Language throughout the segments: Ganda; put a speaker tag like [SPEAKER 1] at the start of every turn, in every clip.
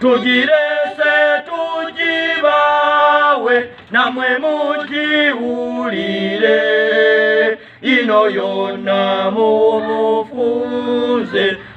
[SPEAKER 1] tugirese tugibawe namwe mugiwulire ino yonna mumufunze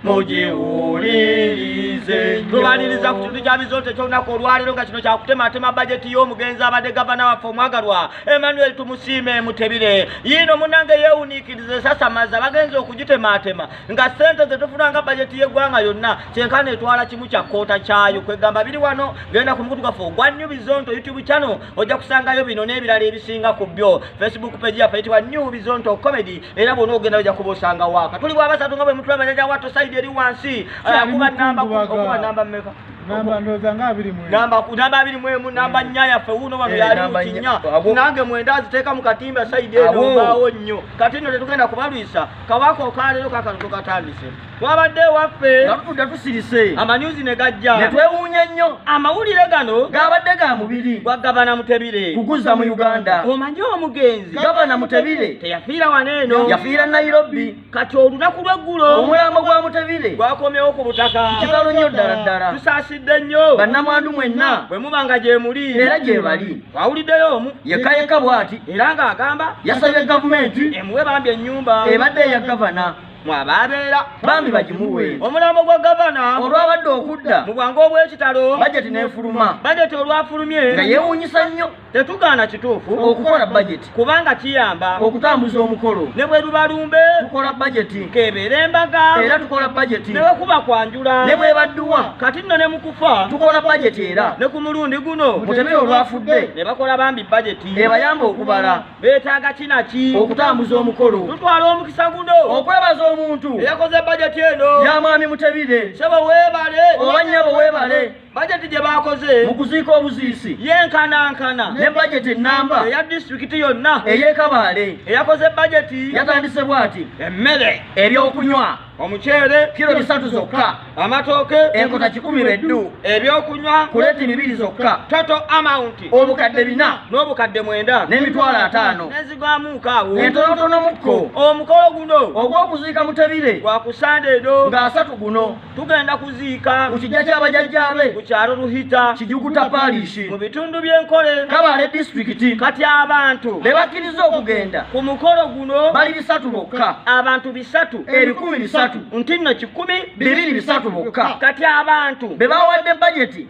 [SPEAKER 1] mugiwulirize tubaniriza ku kintu kya bizonto ekyolunaku olwaleero nga kino kyakutematema bajeti y'omugenzi abadde gavana waffe omwagalwa emmanuel tumusiime mutebire yiino munange yeewuniikiriza esasamaza bagenza okugitematema nga sente zetufuna nga bajeti yegwanga yonna kyenkana etwala kimu kya koota kyayo kwegamba biri wano genda ku mukutu gaffe ogwa new bizonto youtube channel ojja kusangayo bino n'ebirala ebisinga ku byo facebook page yaffe yitibwa new bizonto comedy era bwona ogenda ojja kuba osanga waaka tuli bwabasatu nga bwe mutula bajaja watto saidi eri wansi akuba namba okuba namba mmeka namba ndoza
[SPEAKER 2] nga abiri mwe namba namba abiri
[SPEAKER 1] mwe mu namba nya ya fe uno wano eh, yali ukinya nange mwenda aziteka mu katimba side eno bawo nyo katino tetugenda kubalwisa kabaka okalero kakano tukatandise twabadde ewaffe nga tutudde tusirise amanyuzi ne gajja ne twewuunya nnyo amawulire gano gabadde ga mubiri gwa gavana mutebire kuguzza mu uganda omanyi omugenzi gavana mutebire teyafiira wano eno yafiira nairobi kati olunaku lweggulo omulambo gwa mutebire gwakomyewo ku butaka kitalo nnyo ddala ddala tusaasidde nnyo bannamwandu mwenna bwe muba nga gyemuli era gyebali Wawuliddeyo omu yekka yekka bw'ati era ng'agamba yasabye gavumenti emuwe bambi ennyumba ebadde eya gavana mwabaabeera bambi bagimuwe omulambo gwa gavana olwabadde okudda mu bwangu obw'ekitalo bajeti n'efuluma bajeti olwafulumye nga yeewuunyisa nnyo tetugaana kituufu okukola bajeti kubanga kiyamba okutambuza omukolo ne bwe luba lumbe tukola bajeti nkebeera embaga era tukola bajeti ne wekuba kwanjula ne bwebadduwa kati nno ne mukufa tukola bajeti era ne ku mulundi guno mutemere olwafudde ne bakola bambi bajeti ebayamba okubala beetaaga kinaki okutambuza omukolo tutwala omukisa guno okwebaza omuntu eyakoze bajeti eno yamwami mutebire sebo weebale oba nnyabo weebale bajeti gye baakoze mu kuziika obuziisi yenkanankana ne bajeti ennamba eya disitulikiti yonna ey'ekabaale eyakoze bajeti yatandise bw'ati emmere ebyokunywa omuceere kiro bisatu zokka amatooke enkota kikumi beddu ebyokunywa kuleti bibiri zokka toto amawunti obukadde bina n'obukadde mwenda n'emitwalo ataano nezigwamuuka awo entonotonomukko omukolo guno ogw'okuziika mutebire gwa kusande edo ng'asatu guno tugenda kuziika ku kijja ky'abajajjaabe ku kyalo luhita kijuguta palishi mu bitundu by'enkole kabale disitulikiti kati abantu be bakkiriza okugenda ku mukolo guno bali bisatu bokka abantu bisatu ebikumi bisatu nti nno kikumi bibiri bisatu bokka kati abantu be bawadde bajeti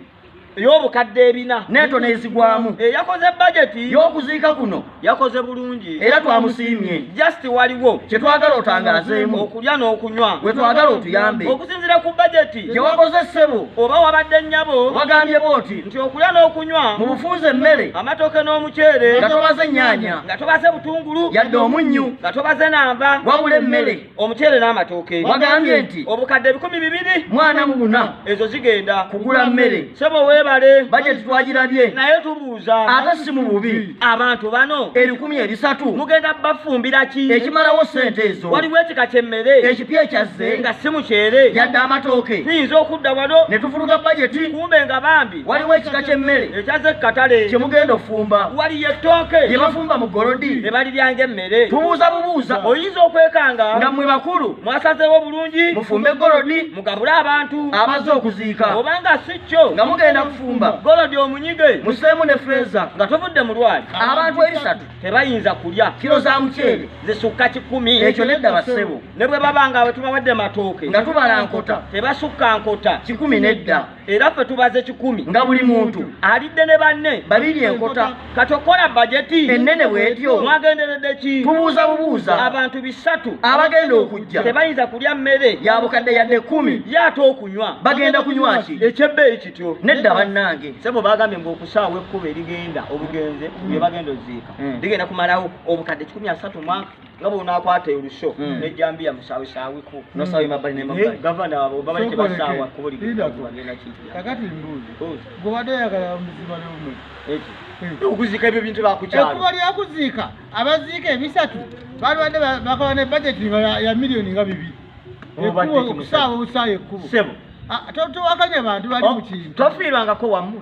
[SPEAKER 1] ey'obukadde ebina neeto n'ezigwamu eyakoze eh, bajeti y'okuziika kuno yakoze bulungi era twamusiimye just waliwo kye twagala otangazeemu okulya n'okunywa we twagala otuyambe okusinzira ku bajeti gye wakoze ssebo oba wabadde nnyabo wagambye booti nti okulya n'okunywa mu bufunza emmere amatooke n'omuceere nga tobaze ennyaanya nga tobaze butungulu yadde omunnyu nga tobaze namba wabula emmere omuceere n'amatooke wagambye nti obukadde ebikumi bibiri mwana mu buna ezo zigenda kugula mmere sebo weebale bajeti twagirabye naye tubuuza ate si mu bubi abantu bano ebikumi ebisatu mugenda bafumbira ki ekimalawo ssente ezo waliwo ekika ky'emmere ekipi ekyazze nga si muceere yadde amatooke tuyinza okudda wano ne tufuluga bajeti kumbe nga bambi waliwo ekika ky'emmere ekyaze katale kye mugenda ofumba waliyo ettooke lye bafumba mu golodi ne baliryanga emmere tubuuza bubuuza oyinza okwekanga nga mmwe bakulu mwasazeewo bulungi mufumbe golodi mugabule abantu abazze okuziika obanga si kyo nga mugenda kufumba golodi omunyige museemu ne feeza nga tovudde mu lwali abantu ebisatu tebayinza kulya kiro za muceere zisukka kikumi ekyo nedda bassebo ne bwe baba nga bwe tubawadde matooke nga tubala nkota tebasukka nkota kikumi nedda era ffe tubaze kikumi nga buli muntu
[SPEAKER 2] alidde ne banne
[SPEAKER 1] babiri enkota
[SPEAKER 2] kati okukola
[SPEAKER 1] bajeti ennene bwetyo
[SPEAKER 2] mwagenderedde ki
[SPEAKER 1] tubuuza bubuuza
[SPEAKER 2] abantu bisatu
[SPEAKER 1] abagenda okujja
[SPEAKER 2] tebayinza kulya mmere
[SPEAKER 1] ya bukadde yadde ekkumi
[SPEAKER 2] yaate okunywa
[SPEAKER 1] bagenda kunywa ki
[SPEAKER 2] ekyebbeeyi kityo
[SPEAKER 1] nedda bannange
[SPEAKER 2] sebo bagambye mbu
[SPEAKER 1] okusaawa ekkuba erigenda obugenze bye bagenda oziika eh. ligenda kumalawo obukadde kikumi asatu mwaka nga bwonaakwata olusho hmm. nejjambiya musaawisaawiku nosaawi mabbali
[SPEAKER 2] nemabbali gavana abo babali
[SPEAKER 1] tebasaawa kubulikakati mbuuzi
[SPEAKER 3] gwobadde oyagala muziba lomwe
[SPEAKER 1] okuziika ebyo bintu bakukyalo ekuba lyakuziika
[SPEAKER 3] abaziika ebisatu balibadde bakola ne bajeti ya miliyoni nga bibiri ekubo okusaawa obusaawa ekkubo ah,
[SPEAKER 1] towakanya
[SPEAKER 3] bantu bali mukintu tofiirwangako wamu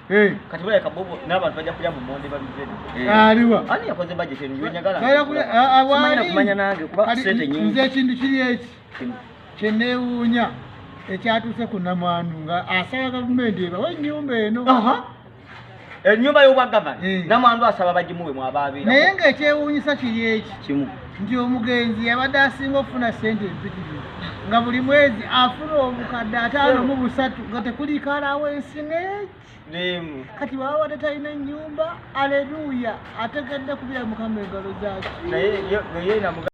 [SPEAKER 1] Eh. kati baleka bobo n'abantu bajja kulya mu monde babijjeni eh. aliwa ani yakoze
[SPEAKER 3] bajeti eno
[SPEAKER 1] yonyagala awali
[SPEAKER 2] kumanya nange kuba sente nyingi nze ekintu kiri eki
[SPEAKER 3] kyeneewuunya ekyatuuse ku namwandu nga asaba gavumenti ebawa ennyumba eno
[SPEAKER 1] ennyumba y'obwagavana eh. namwandu asaba bagimuwe mwabaabeera naye ng'ekyewuunyisa
[SPEAKER 3] kiri eki kimu nti
[SPEAKER 2] omugenzi
[SPEAKER 3] yabadde asinga okufuna ssente empitirivu nga buli mwezi afuna obukadde ataano mu busatu nga tekuliikaalaawo ensi neeki kati baba wadde talina ennyumba aleluuya ategedde kubira mukama engalo zaaki